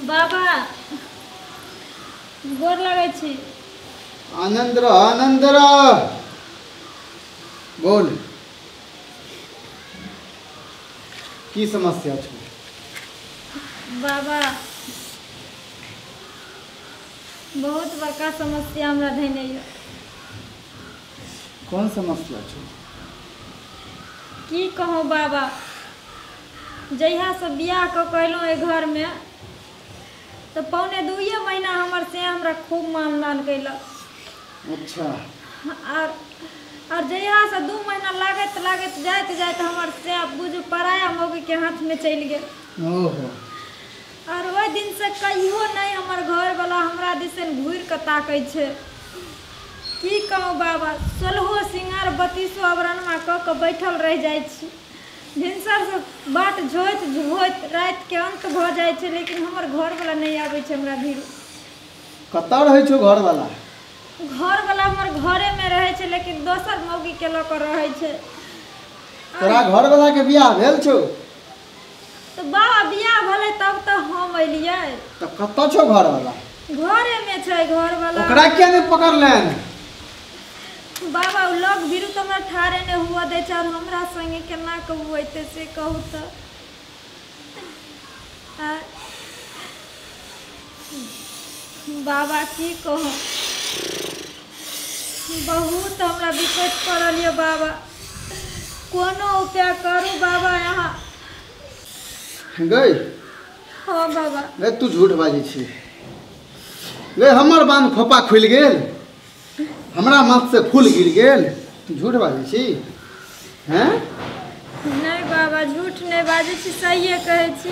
बाबा गोर लगै छी आनंद रह आनंद रह बोल की समस्या छौ बाबा बहुत बड़का समस्या हमरा धैने यऽ कोन समस्या छौ की कहूँ बाबा जहियासँ बियाह कऽ कऽ अयलहुँ एहि घरमे तऽ पौने दुइए महीना हमर से हमरा खूब मान दान कयलक अच्छा आर आर जहियासँ दू महीना लागैत लागैत जाइत जाइत हमर से आब बुझू पराया मौगीके हाथमे चलि गेल ओहो आर ओहि दिनसँ कहियो नहि हमर घरवला हमरा दिसन घूरि कऽ ताकै छै की कहू बाबा सोलहो सिंगार बत्तीसो अवरणमा कऽ कऽ बैठल रहि जाइ छी भिनसरसँ बाट झोइत झोइत रातिके अन्त भऽ जाइ छै लेकिन हमर घरवला नहि आबै छै हमरा भिर कतऽ रहै छौ घरवाला घरवाला हमर घरे में रहै छै लेकिन दोसर मौगी के लऽ कऽ रहै छै तोरा घरवाला के बियाह भेल छौ तऽ बाबा बियाह भेलै तब तऽ हम एलियै तऽ कतऽ छौ घरवाला घरे में छै घरवाला ओकरा किया नहि पकड़लैन बाबा उ लोग भीरू तो हमरा ठारे ने हुआ दै छै और हमरा संगे केना कहू एते से कहू तऽ बाबा की कहू बहुत हमरा विपद पड़ल यऽ बाबा कोनो उपाय करू बाबा यहाँ गई हाँ बाबा गई तू झूठ बाजी छी गई हमर बांध खोपा खुलि गेल हमरा माथ से फूल गिर गेल झूठ बाजै छी हैं नहि बाबा झूठ नहि बाजै छी सहिए कहै छी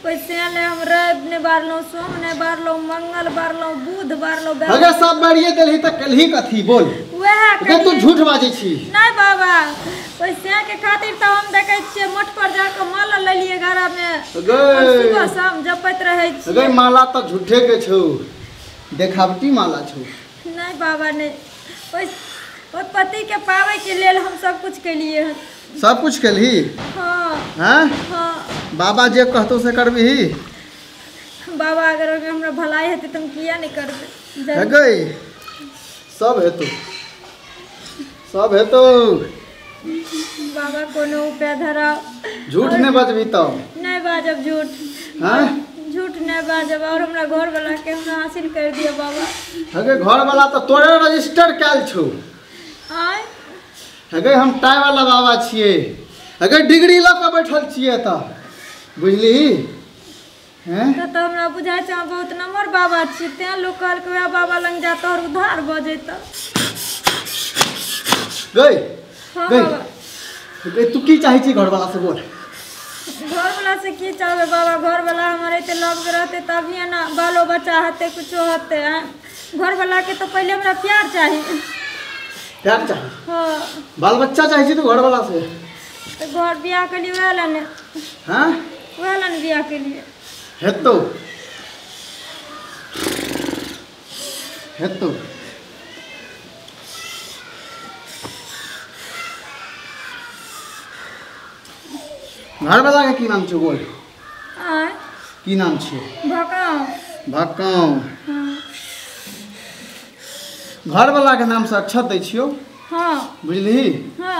ओहि तेँ लए हम रवि नहि बारलहुँ सोम नहि बारलहुँ मंगल बारलहुँ बुध बारलहुँ बे- अगर सब बारिए देलही तऽ कलही कथी बोल उएह अगर तू कहियै। झूठ बाजै छी नहि बाबा ओहि तेँ के खातिर तऽ हम देखै छियै मठ पर जाके माला लेलियै घरमे अगर- हम सुबह शाम जपैत रहै छी अगर माला तऽ झूठे के छौ देखावटी माला छौ नहि बाबा नहि ओहि ओहि पतिके पाबैके लेल हम सब कुछ केलियै हन सब कुछ केलही हँ हैं हँ बाबा जे कहतौ से करबही बाबा अगर ओहिमे हमरा भलाई हेतै तऽ हम किया नहि करबै जरूर। हेगै सब हेतौ सब हेतौ बाबा कोनो उपाय धराउ झूठ नहि बजबी तऽ नहि बाजब झूठ हैं झूठ नहि बाजब और हमरा घर वाला के हमरा हासिल कर दियो बाबा हेगे घर वाला तऽ तोरे रजिस्टर कयल छौ आय हेगे हम टाई वाला बाबा छियै हेगे डिग्री लऽ कऽ बैठल छियै तऽ बुझली तऽ तऽ हमरा बुझाइ छै अहाँ बहुत नम्हर बाबा छियै तें लोक कहलकै वएह बाबा लग जा तोहर उद्धार भऽ जैतौ गई हँ गई बाबा गई तू की चाहे छी घरवाला से बोल घरवला से की चाहबै बाबा घरवला हमर एते लग रहतै तभिए ने बालो बच्चा हेतै कुछो हेतै आँय। घरवलाके तऽ पहिले हमरा प्यार चाही प्यार चाहे हँ बाल बच्चा चाहे छी तू घरवाला से तऽ घर बियाह केलियै वएह लए ने हाँ वएह लए ने बियाह केलियै हेतौ हेतौ घरवला के की नाम छै बोल आय की नाम छै भकाओ भक्काउ हँ घरवला के नाम से अक्षत दै छियौ हँ बुझलिही हँ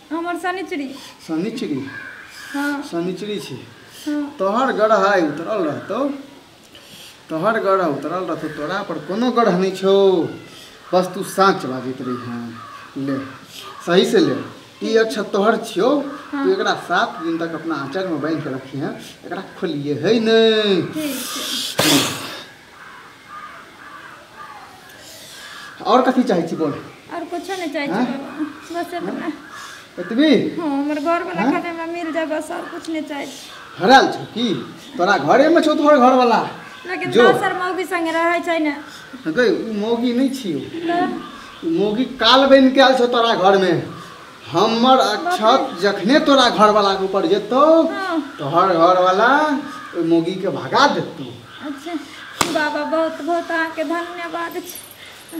हमर शनिचरी शनिचरी हँ शनिचरी छी हँ तोहर ग्रह आइ उतरल रहतौ तोहर ग्रह उतरल रहतौ तोरा पर कोनो ग्रह नहि छौ बस तू साँच बाजैत रही हँ ले सही से ले ई अच्छा तोहर छियौ तू एकरा सात दिन तक अपना आँचरमे बान्हि कऽ रखी हँ एकरा खोलिए है नहि ठीक छै और कथी चाहे छी बोल और कुछ नहीं चाहे छी हाँ? बस इतना एतबी हां हमर घर वाला हाँ? खाने में मिल जाए बस और कुछ नहीं चाहे छी हराल छ की तोरा घरे में छौ तोहर घर वाला लेकिन दोसर मौगी संगे रहै छै ने गई मौगी नहीं छी मौगी काल बन के आल छौ तोरा घर में हमर अक्षत जखने तोरा घरवाला के ऊपर जेतो हाँ। तोहर घरवाला ओहि मोगी के भगा देतो अच्छा बाबा बहुत बहुत अहाँके धन्यवाद छै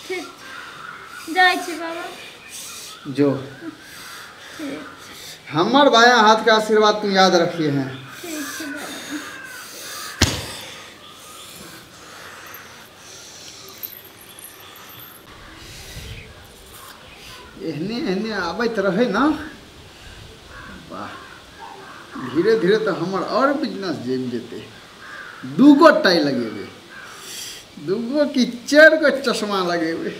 ठीक जाइ छी बाबा जो ठीक हमर बाया हाथ का आशीर्वाद तू याद रखिए हैं ठीक छै बाबा एहने एहने आबैत रहै ने वाह धीरे धीरे तऽ हमर आओर बिजनेस जमि जेतै दूगो टाइ लगेबै दूगो कि चारि गो चश्मा लगेबै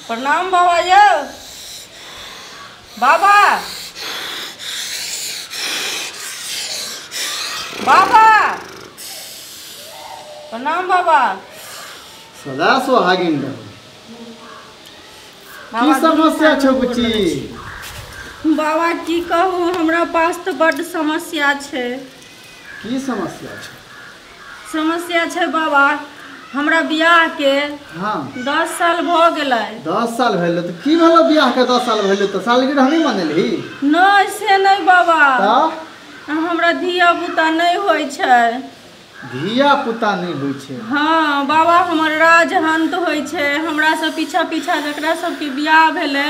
प्रणाम बाबा यौ बाबा बाबा प्रणाम बाबा सदा सोहागिन रहू की बाबा, समस्या छौ गोर बुच्ची लगै छी। बाबा की कहू हमरा पास तऽ बड्ड समस्या छै की समस्या छै समस्या छै बाबा हमरा बियाह के हाँ दस साल भ गेलै दस साल भेलै तऽ की भेलो बियाह के दस साल भेलै तऽ सालगिरह नहि मनेलही नहि से नहि बाबा तऽ हमरा धिया पुता नहि होइ छै धिया पुता नहि होइ छै छै। हँ बाबा हमर राज हन्त होइ छै हमरा सब पीछा पीछा जकरा सबके बियाह भेलै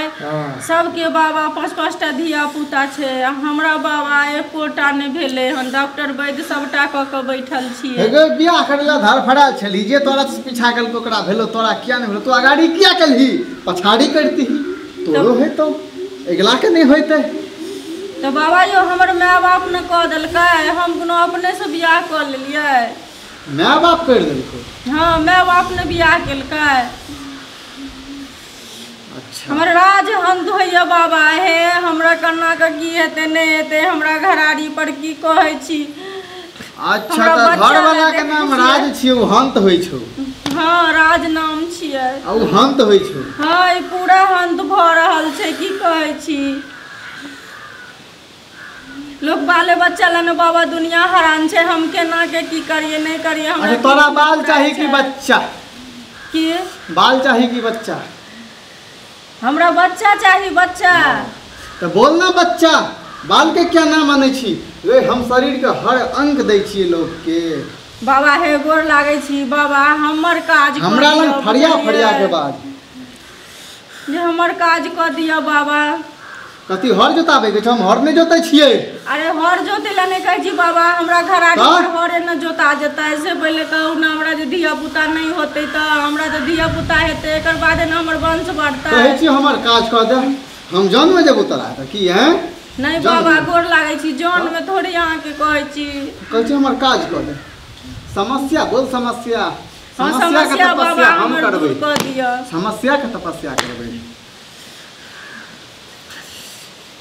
सबके बाबा पाँच पाँच टा धिया पुता छै आ हमरा बाबा एकोटा नहि भेलै हन डॉक्टर वैद्य सबटा कऽ कऽ बैठल छियै हे गै बियाह करै लए धड़फड़ायल छली जे तोरा से पीछा केलको ओकरा भेलो तोरा किया नहि भेलो तू अगाड़ी किया केलही पछाड़ी करतीही तोरो हेतौ अगिला के नहि होइतै तऽ बाबा यौ हमर माय बाप ने कऽ देलकै हम कोनो अपने से बियाह कऽ लेलियै माय बाप करि देलकै हाँ माय बाप ने बियाह केलकै अच्छा हमर राज हंत होइए बाबा हे हमरा कन्नाके की हेतै नहि हेतै हमरा घराड़ी पर की कहै छी अच्छा हमरा तऽ बच्चा घर वाला लए के देखै नाम छियै। राज छियै ओ हंत होइ छौ हाँ राज नाम छियै आ ओ हंत होइ छौ हाँ ई पूरा हंत भऽ रहल छै की कहै छी लोग बाले बच्चा ला न बाबा दुनिया हरान छे हम केना के की करिए नहीं करिए हमरा अच्छा तोरा की बाल पता चाहिए कि छे? बच्चा की बाल चाहिए कि बच्चा हमरा बच्चा चाही बच्चा तो बोल ना बच्चा बाल के क्या नाम माने छी रे हम शरीर के हर अंग दै छियै लोग के बाबा हे गोर लागे छी बाबा हमर काज हमरा करियौ, लग फरिया बुझलियै? फरिया के बाल जे हमर काज कऽ दिअ बाबा कथी हर जोताबे के हम हर नहीं जोते छिए अरे हर जोते ला नहीं कहे छी बाबा हमरा घर आगे पर हर न जोता जता ऐसे पहले कहू ना हमरा जे दिया पुता नहीं होते त हमरा जे दिया पुता हेते एकर बाद न हमर वंश बढ़ता कहे छी हमर काज क दे हम जान में जेबो तोरा त की है नहीं बाबा गोर लागे छी जान में थोड़ी यहां के कहे छी कहे छी हमर काज क दे समस्या बोल समस्या हँ समस्या के समस्या बाबा तपस्या हम हमर दूर करबै कऽ दिअ समस्या के तपस्या करबै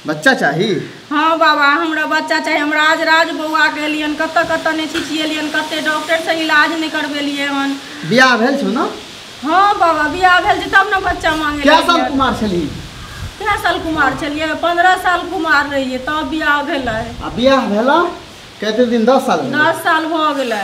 बच्चा चाही हँ बाबा हमरा बच्चा चाही हमरा आज राज बौआ गेलियन कतऽ कतऽ नहि छिछिएलियन कते डॉक्टर से इलाज नहि करबेलियै हन बियाह भेल छौ ने हँ बाबा बियाह भेल छै तब ने बच्चा मांगे कए साल लगलियै। कुमार छलही कए साल कुमार छलियै पंद्रह साल कुमार रहियै तब बियाह भेलै आ बियाह भेला कते दिन दस साल भेला दस साल भऽ गेलै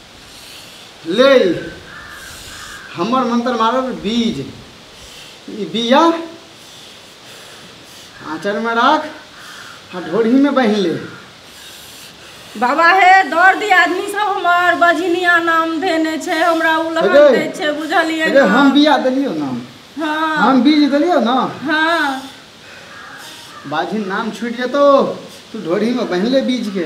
ले हमर मंत्र मारल बीज ई बीया आँचरमे राख आ ढोरीमे बान्हि ले बाबा हे दौड़ दी आदमी सब हमर बझिनिया नाम देने छै हमरा उलहन अरे, दै छै बुझलियै अरे ने? हम बीया देलियौ ने हाँ हम बीज देलियौ ने हाँ बाझिन नाम छूटि जेतौ तू ढोरीमे बान्हि ले बीजके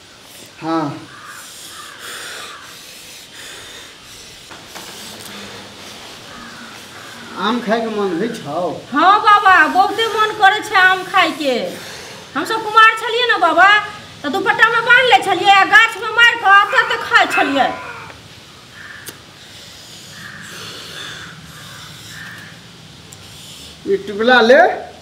हाँ आम खायके मन होइ छौ हाँ बाबा बहुते मन करै छै आम खायके हमसब कुमार छलियै ने बाबा तऽ दुपट्टामे बान्हि लै छलियै आ गाछमे मारि कऽ एतऽ तऽ खाइ छलियै ई टिकुला ले